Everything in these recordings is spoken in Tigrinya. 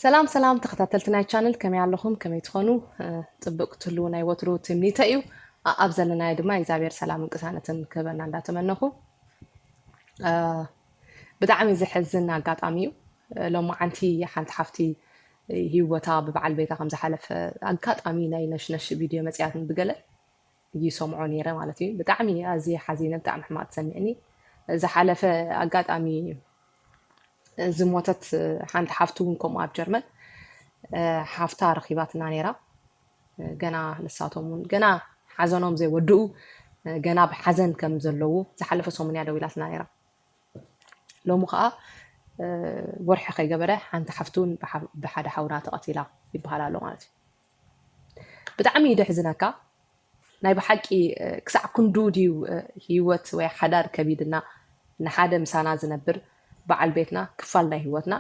ሰላም ሰላም ተኸታተልቲ ናይ ቻነል ከመይ ኣለኹም ከመይ ትኾኑ ፅብቅ ክትህልው ናይ ወትሩ ትምኒተ እዩ ኣብ ዘለናዮ ድማ እግዚኣብሔር ሰላም ቅሳነትን ክህበና እንዳተመነኹ ብጣዕሚ ዘሕዝን ኣጋጣሚ እዩ ሎሚ ዓንቲ ሓንቲ ሓፍቲ ሂወታ ብበዓል ቤታ ከም ዝሓለፈ ኣጋጣሚ ናይ ነሽነሽ ቪድዮ መፅያትን ብገለ ይሰምዖ ነይረ ማለት እዩ ብጣዕሚ ኣዝየ ሓዚነ ብጣዕሚ ሕማቅ ተሰሚዕኒ ዝሓለፈ ኣጋጣሚ ዝሞተት ሓንቲ ሓፍቱ እውን ከምኡ ኣብ ጀርመን ሓፍታ ረኪባትና ነይራ ገና ንሳቶም እውን ገና ሓዘኖም ዘይወድኡ ገና ብሓዘን ከም ዘለዉ ዝሓለፈ ሰሙን እያ ደዊላትና ነይራ ሎሚ ከዓ ወርሒ ከይገበረ ሓንቲ ሓፍቱን ብሓደ ሓውና ተቐቲላ ይበሃል ኣሎ ማለት እዩ ብጣዕሚ እዩ ደሕዝነካ ናይ ብሓቂ ክሳዕ ክንዱ ድዩ ሂወት ወይ ሓዳር ከቢድና ንሓደ ምሳና ዝነብር በዓል ቤትና ክፋል ናይ ሂወትና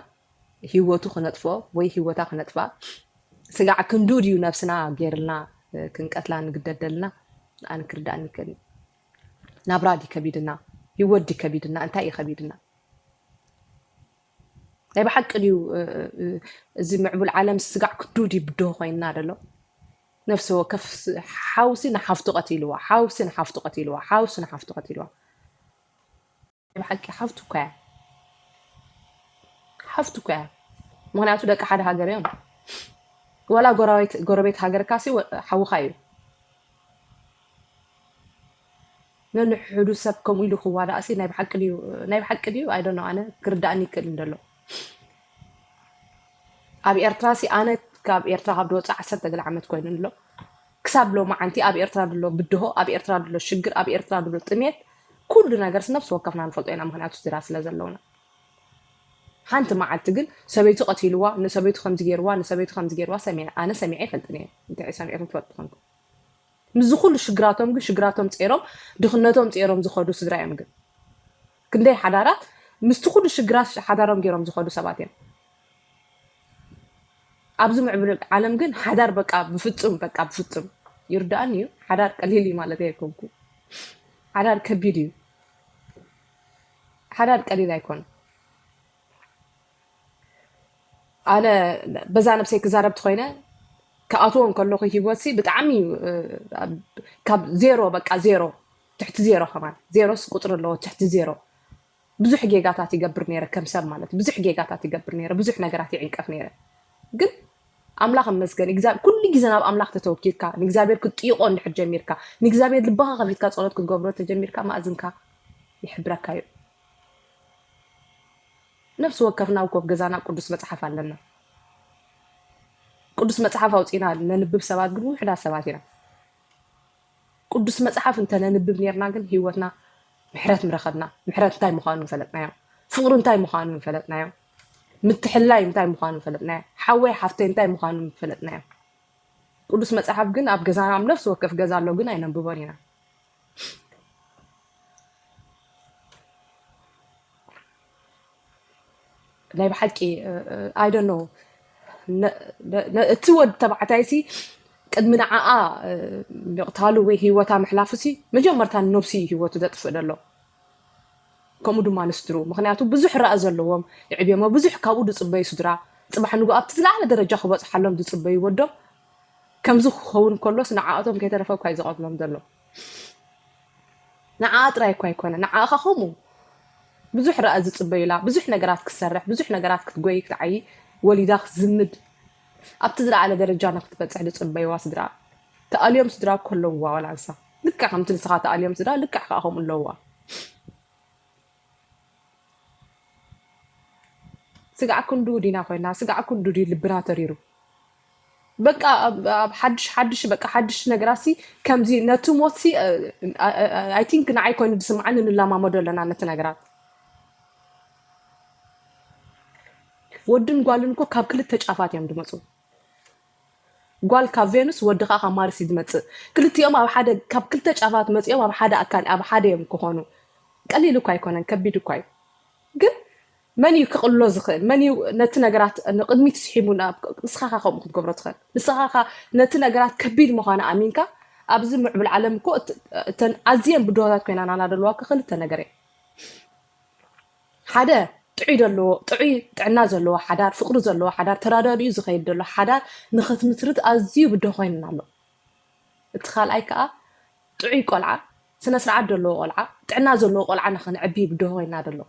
ሂወቱ ክነጥፎ ወይ ሂወታ ክነጥፋ ስጋዕ ክንዱ ድዩ ነብስና ጌርልና ክንቀትላ ንግደድ ደልና ኣነ ክርዳእኒ ይከል ናብራ ዲ ከቢድና ሂወት ዲ ከቢድና እንታይ እዩ ከቢድና ናይ ብሓቂ ድዩ እዚ ምዕቡል ዓለም ስጋዕ ክዱድ ይብድሆ ኮይንና ደሎ ነፍሲ ወከፍ ሓውሲ ንሓፍቱ ቀቲልዋ ሓውሲ ንሓፍቱ ቀቲልዋ ሓውሲ ንሓፍቱ ቀቲልዋ ናይ ብሓቂ ሓፍቱ እኳ እያ ሓፍቱ እኳ እያ ምክንያቱ ደቂ ሓደ ሃገር እዮም ወላ ጎረቤት ሃገርካሲ ሓውካ እዩ ነንሕሕዱ ሰብ ከምኡ ኢሉ ክዋዳእሲ ናይ ብሓቂ ድዩ ናይ ብሓቂ ድዩ ኣይ ዶንት ኖ ኣነ ክርዳእኒ ይክእል እንደሎ ኣብ ኤርትራሲ ኣነ ካብ ኤርትራ ካብ ዝወፅእ ዓሰርተ ገለ ዓመት ኮይኑ ኣሎ ክሳብ ሎማዓንቲ ኣብ ኤርትራ ድሎ ብድሆ ኣብ ኤርትራ ድሎ ሽግር ኣብ ኤርትራ ድሎ ጥሜት ኩሉ ነገርስ ነብሲ ወከፍና ንፈልጦ ኢና ምክንያቱ ስድራ ስለ ዘለውና ሓንቲ መዓልቲ ግን ሰበይቱ ቀቲልዋ ንሰበይቱ ከምዚ ገይርዋ ንሰበይቱ ከምዚ ገይርዋ ሰሚዐ ኣነ ሰሚዐ ይፈልጥን እየ እንታይ ሰሚዕኩም ትፈልጡ ኮንኩም ምስዚ ኩሉ ሽግራቶም ግን ሽግራቶም ጼሮም ድኽነቶም ጼሮም ዝኸዱ ስድራ እዮም ግን ክንደይ ሓዳራት ምስቲ ኩሉ ሽግራት ሓዳሮም ጌሮም ዝኸዱ ሰባት እዮም ኣብዚ ምዕብል ዓለም ግን ሓዳር በቃ ብፍጹም በቃ ብፍጹም ይርዳእኒ እዩ ሓዳር ቀሊል እዩ ማለት ኣይኮንኩ ሓዳር ከቢድ እዩ ሓዳር ቀሊል ኣይኮን ኣነ በዛ ነብሰይ ክዛረብ ትኮይነ ክኣትዎ እንከለኩ ሂወትሲ ብጣዕሚ ካብ ዜሮ በቃ ዜሮ ትሕቲ ዜሮ ከማን ዜሮስ ቁፅሪ ኣለዎ ትሕቲ ዜሮ ብዙሕ ጌጋታት ይገብር ነይረ ከም ሰብ ማለት ብዙሕ ጌጋታት ይገብር ነይረ ብዙሕ ነገራት ይዕንቀፍ ነይረ ግን ኣምላኽ እመስገን ኩሉ ግዜ ናብ ኣምላኽ ተተወኪልካ ንእግዚኣብሔር ክትጥይቆ እንድሕር ጀሚርካ ንእግዚኣብሔር ልባኻ ከፊትካ ፀሎት ክትገብሮ ተጀሚርካ ማእዝንካ ይሕብረካ እዩ ነፍሲ ወከፍና እኮ ኣብ ገዛና ቅዱስ መጽሓፍ ኣለና። ቅዱስ መጽሓፍ ኣውጺና ነንብብ ሰባት ግን ውሕዳት ሰባት ኢና። ቅዱስ መጽሓፍ እንተ ነንብብ ኔርና ግን ህይወትና ምሕረት ምረኸብና። ምሕረት እንታይ ምዃኑ ምፈለጥናዮ። ፍቕሪ እንታይ ምዃኑ ምፈለጥናዮ። ምትሕላይ እንታይ ምዃኑ ምፈለጥናዮ። ሓወይ ሓፍተይ እንታይ ምዃኑ ምፈለጥናዮ። ቅዱስ መጽሓፍ ግን ኣብ ገዛና ኣብ ነፍሲ ወከፍ ገዛ ኣሎ ግን ኣይነንብቦን ኢና። ናይ ብሓቂ ኣይደኖ እቲ ወድ ተባዕታይሲ ቅድሚ ንዓኣ ምቕታሉ ወይ ሂወታ ምሕላፉሲ መጀመርታ ነብሱ እዩ ሂወቱ ዘጥፍእ ዘሎ ከምኡ ድማ ንስድሩ ምክንያቱ ብዙሕ ራእ ዘለዎም ይዕብዮሞ ብዙሕ ካብኡ ዝፅበዩ ስድራ ፅባሕ ንጉ ኣብቲ ዝለዓለ ደረጃ ክበፅሓሎም ዝፅበዩ ወዶም ከምዚ ክኸውን ከሎስ ንዓኣቶም ከይተረፈ እኳ እዩ ዝቐትሎም ዘሎ። ንዓኣ ጥራይ እኳ ኣይኮነ ንዓኻ ከምኡ ብዙሕ ረኣ ዝጽበዩላ ብዙሕ ነገራት ክትሰርሕ ብዙሕ ነገራት ክትጎይ ክትዓይ ወሊዳ ክትዝምድ ኣብቲ ዝለዓለ ደረጃ ንክትበጽሕ ዝጽበይዋ ስድራ ተኣልዮም ስድራ እኮ ኣለውዋ ዋላ ንሳ ልክዕ ከምቲ ንስኻ ተኣልዮም ስድራ ልክዕ ከዓ ከምኡ ኣለውዋ ስጋዕ ክንድኡ ዲና ኮይና ስጋዕ ክንዱ ድዩ ልብና ተሪሩ በቃ ኣብ ኣብ ሓድሽ ሓድሽ በቃ ሓድሽ ነገራሲ ከምዚ ነቲ ሞትሲ ኣይ ቲንክ ንዓይ ኮይኑ ዝስምዓኒ ንለማመዶ ኣለና ነቲ ነገራት ወድን ጓልን እኮ ካብ ክልተ ጫፋት እዮም ዝመፁ ጓል ካብ ቬኑስ ወዲ ከኣ ካብ ማርስ እዩ ዝመጽእ ክልቲኦም ኣብ ሓደ ካብ ክልተ ጫፋት መጺኦም ኣብ ሓደ ኣካል ኣብ ሓደ እዮም ክኾኑ ቀሊል እኳ ኣይኮነን ከቢድ እኳ እዩ ግን መን እዩ ክቕሎ ዝኽእል መን እዩ ነቲ ነገራት ንቕድሚት ስሒቡ ንስኻኻ ከምኡ ክትገብሮ ትኽእል ንስኻኻ ነቲ ነገራት ከቢድ ምዃኑ ኣሚንካ ኣብዚ ምዕብል ዓለም እኮ እተን ኣዝየን ብድሆታት ኮይና ናናደለዋ ክኽልተ ነገር እየ ሓደ ጥዑይ ደለዎ ጥዑይ ጥዕና ዘለዎ ሓዳር ፍቅሪ ዘለዎ ሓዳር ተራዳዲኡ ዝኸይድ ደሎ ሓዳር ንኽትምስርት ኣዝዩ ብድሆ ኮይኑና ኣሎ። እቲ ካልኣይ ከኣ ጥዑይ ቆልዓ ስነ ስርዓት ደለዎ ቆልዓ ጥዕና ዘለዎ ቆልዓ ንኽንዕቢ ብድሆ ኮይና ደሎ።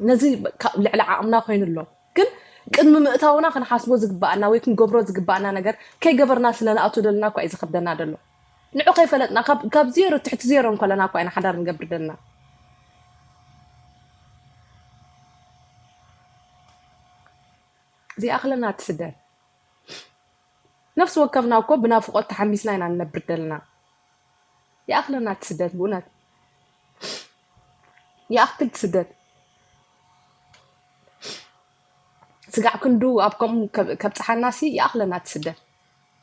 ነዚ ካብ ልዕሊ ዓቕምና ኮይኑ ኣሎ ግን ቅድሚ ምእታውና ክንሓስቦ ዝግባኣና ወይ ክንገብሮ ዝግባኣና ነገር ከይገበርና ስለ ንኣቱ ደለና እኳ እዩ ዝኸብደና ደሎ ንዑ ከይፈለጥና ካብ ዜሮ ትሕቲ ዜሮ እንከለና እኳ ኢና ሓዳር ንገብር ደለና ዘይኣኽለና ትስደር ነፍሲ ወከፍና እኮ ብናፍቆት ተሓሚስና ኢና ንነብር ደለና ይኣክለና እቲ ስደት ብኡነት ይኣክል እቲ ስደት ስጋዕ ክንዱ ኣብ ከምኡ ከብፅሓና ሲ ይኣክለና እቲ ስደት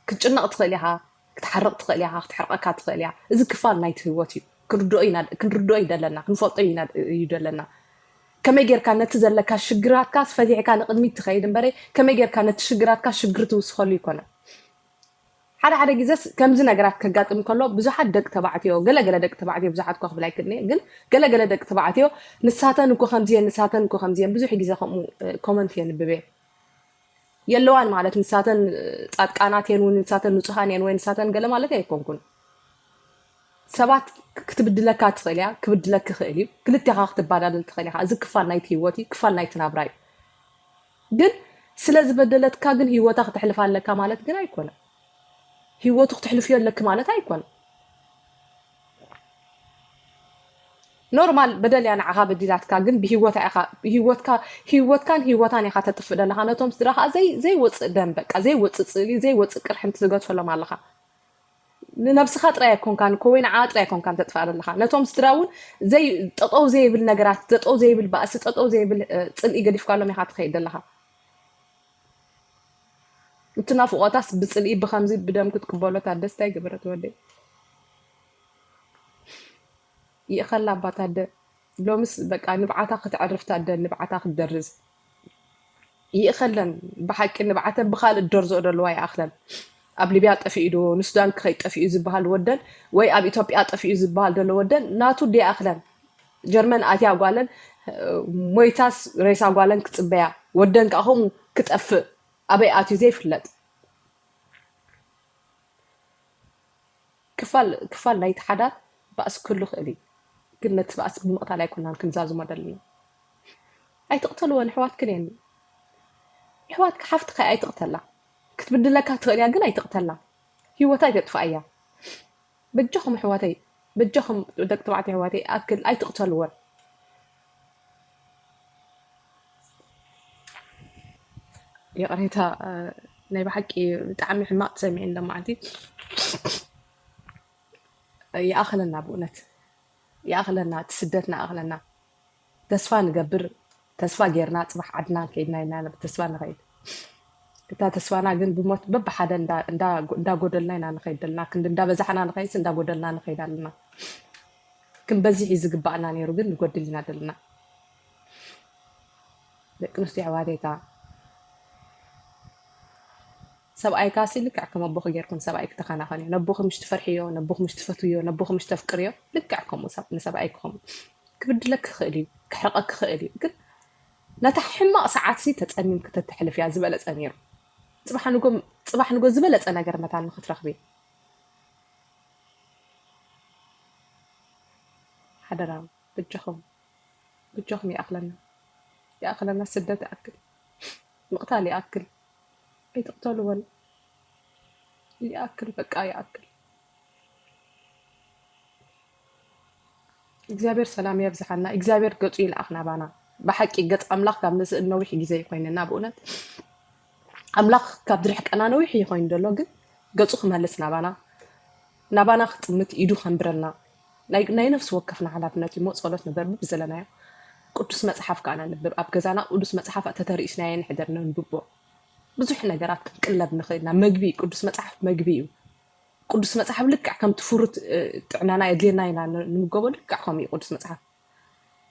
ክትጭነቅ ትክእል ኢካ ክትሓርቅ ትክእል ኢካ ክትሕርቀካ ትክእል እያ እዚ ክፋል ናይቲ ህይወት እዩ ክንርድኦ እዩ ደለና ክንፈልጦ እዩ ደለና ከመይ ጌርካ ነቲ ዘለካ ሽግራትካ ፈቲሕካ ንቅድሚት ትኸይድ እምበረ ከመይ ጌርካ ነቲ ሽግራትካ ሽግሪ ትውስኸሉ ይኮነ ሓደ ሓደ ግዘስ ከምዚ ነገራት ከጋጥም ከሎ ብዙሓት ደቂ ተባዕትዮ ገለገለ ደቂ ተባዕትዮ ብዙሓት እኳ ክብል ኣይክእልንየ ግን ገለገለ ደቂ ተባዕትዮ ንሳተን እኮ ከምዚየን ንሳተን እኮ ከምዚየን ብዙሕ ግዘ ከምኡ ኮመንት የንብብ እየ የለዋን ማለት ንሳተን ጻድቃናት የን ወይ ንሳተን ንጹሃን የን ወይ ንሳተን ገለ ማለት ኣይኮንኩን ሰባት ክትብድለካ ትኽእል እያ ክብድለክ ክኽእል እዩ ክልቴኻ ክትባዳደል ትኽእል ኢኻ እዚ ክፋል ናይቲ ህይወት እዩ ክፋል ናይቲ ናብራ እዩ ግን ስለ ዝበደለትካ ግን ህይወታ ክተሕልፍ ኣለካ ማለት ግን ኣይኮነ ህይወቱ ክትሕልፍዮ ኣለኪ ማለት ኣይኮነ ኖርማል በደል እያ ንዓኻ በዲላትካ ግን ብሂወታ ኢኻ ሂወትካ ሂወትካን ሂወታን ኢኻ ተጥፍእ ዘለኻ ነቶም ስድራ ከዓ ዘይ ዘይወፅእ ደም በቃ ዘይወፅእ ፅእሊ ዘይወፅእ ቅርሕንቲ ትገድፈሎም ኣለኻ ንነብስኻ ጥራይ ኣይኮንካን እኮ ወይ ንዓኣ ጥራይ ኣይኮንካን ተጥፍኣ ዘለኻ ነቶም ስድራ እውን ዘይ ጠጠው ዘይብል ነገራት ጠጠው ዘይብል ባእሲ ጠጠው ዘይብል ፅልኢ ገዲፍካሎም ኢኻ ትኸይድ ዘለኻ እትናፍቆታስ ብጽልኢ ብከምዚ ብደም ክትቅበሎ ታደስ ታይ ገበረት ወደይ ይእኸላ እባ ታደ ሎምስ በቃ ንብዓታ ከተዕርፍ ታደ ንብዓታ ክትደርዝ ይእኸለን ብሓቂ ንብዓተን ብካልእ ደርዝኦ ደለዋ ይኣኽለን ኣብ ሊብያ ጠፊኡ ዶ ንሱዳን ክኸይ ጠፊኡ ዝበሃል ወደን ወይ ኣብ ኢትዮጵያ ጠፊኡ ዝበሃል ደሎ ወደን ናቱ ዲኣኽለን ጀርመን ኣትያ ጓለን ሞይታስ ሬሳ ጓለን ክፅበያ ወደን ከዓ ከምኡ ክጠፍእ ኣበይ ኣትዩ ዘይፍለጥ ክፋል ክፋል ናይቲ ሓዳር ባእሲ ክህሉ ይኽእል እዩ ግን ነቲ ባእሲ ብምቕታል ኣይኮናን ክንዛዝሞ ደለና ኣይትቕተልወን ኣሕዋትክን እየን ኣሕዋትካ ሓፍትካ ኣይትቕተላ ክትብድለካ ትኽእል እያ ግን ኣይትቕተላ ሂወታ ኣይተጥፋእያ በጃኹም ኣሕዋተይ በጃኹም ደቂ ተባዕትዮ ኣሕዋተይ ይኣክል ኣይትቅተልወን። ይቕሬታ ናይ ብሓቂ ብጣዕሚ ሕማቅ ተሰሚዕኒ ለማዓንቲ ይኣኽለና ብእውነት ይኣኽለና እቲ ስደትና ይኣኽለና። ተስፋ ንገብር ተስፋ ጌርና ጽባሕ ዓድና ከይድና ኢና ብተስፋ ንኸይድ እታ ተስፋና ግን ብሞት በብሓደ እንዳጎደልና ኢና ንኸይድ ዘለና ክንዲ እንዳበዛሕና ንኸይድስ እንዳጎደልና ንኸይድ ኣለና ክንበዝሕ እዩ ዝግባእና ነይሩ ግን ንጎድል ኢና ዘለና ደቂ ኣንስትዮ ኣሕዋተይታ ሰብኣይካሲ ልክዕ ከም ኣቦኺ ጌርኩም ሰብኣይኪ ተኸናኸንዮ። ነቦኺ ምሽ ትፈርሕዮ፣ ነቦኺ ምሽ ትፈትውዮ፣ ነቦኺ ምሽ ተፍቅርዮ፣ ልክዕ ከምኡ ሰብ ንሰብኣይኪ ከምኡ። ክብድለኪ ይኽእል እዩ፣ ክሕርቐኪ ይኽእል እዩ፣ ግን ነታ ሕማቕ ሰዓትሲ ተጸሚምኪ ተተሕልፍያ ዝበለጸ ነይሩ። ጽባሕ ንጎ ጽባሕ ንጎ ዝበለጸ ነገር መታን ንኽትረኽቢ ሓደራ ብጃኹም ብጃኹም ይኣኽለና ይኣኽለና ስደት ይኣክል ምቕታል ይኣክል ኣይትቅተሉ በሉ ይኣክል በቃ ይኣክል። እግዚኣብሔር ሰላም የብዝሓና እግዚኣብሔር ገጹ ይልኣኽ ናባና ብሓቂ ገጽ ኣምላኽ ካብ ምስእን ነዊሕ ግዜ ይኮይንና ብእውነት ኣምላኽ ካብ ዝርሕቀና ነዊሕ ይኮይን ዘሎ ግን ገጹ ክመልስ ናባና ናባና ክጥምት ኢዱ ከንብረልና ናይ ናይ ነፍሲ ወከፍና ሓላፍነት እዩሞ ጸሎት ንበር ብብዘለናዮ ቅዱስ መጽሓፍ ከኣ ነንብብ ኣብ ገዛና ቅዱስ መጽሓፍ ተተርእስናዮ ንሕደር ነንብቦ ብዙሕ ነገራት ክንቅለብ ንኽእል ኢና መግቢ ቅዱስ መጽሓፍ መግቢ እዩ ቅዱስ መጽሓፍ ልክዕ ከምቲ ፍሩት ጥዕናና የድልየና ኢና ንምገቦ ልክዕ ከምኡ እዩ ቅዱስ መጽሓፍ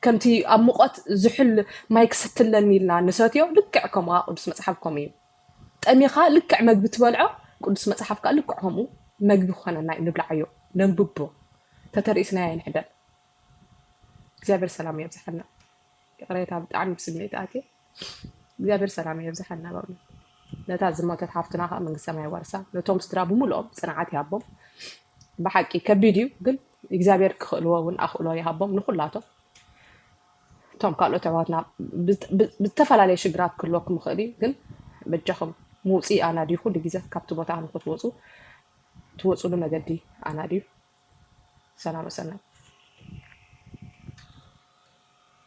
ከምቲ ኣብ ሙቐት ዝሑል ማይ ክሰትለኒ ኢልና ንሰትዮ፣ ልክዕ ከምኡ ከኣ ቅዱስ መጽሓፍ ከምኡ እዩ። ጠሚኻ ልክዕ መግቢ ትበልዖ፣ ቅዱስ መጽሓፍ ከኣ ልክዕ ከምኡ መግቢ ክኾነና እዩ፣ ንብልዓዮ፣ ነንብቦ፣ ተተርኢስናዮ ኣይንሕደር። እግዚኣብሔር ሰላሙ የብዝሓልና። ይቕሬታ ብጣዕሚ ብስምዒት ኣትየ። እግዚኣብሔር ሰላሙ የብዝሓልና በእውነት ነታ ዝሞተት ሓፍትና ከዓ መንግስተ ሰማይ የዋርሳ ነቶም ስድራ ብምልኦም ፅንዓት ይሃቦም ብሓቂ ከቢድ እዩ ግን እግዚኣብሔር ክኽእልዎ እውን ኣኽእሎ ይሃቦም ንኩላቶም እቶም ካልኦት ኣሕዋትና ብዝ- ብ- ብዝተፈላለየ ሽግራት ክህልወኩም ይኽእል እዩ ግን በጃኹም ምውፅኢ ኣናድዩ ኩሉ ግዜ ካብቲ ቦታ ንክትወፁ ትወፅሉ መገዲ ኣናድዩ ሰላም ወሰናይ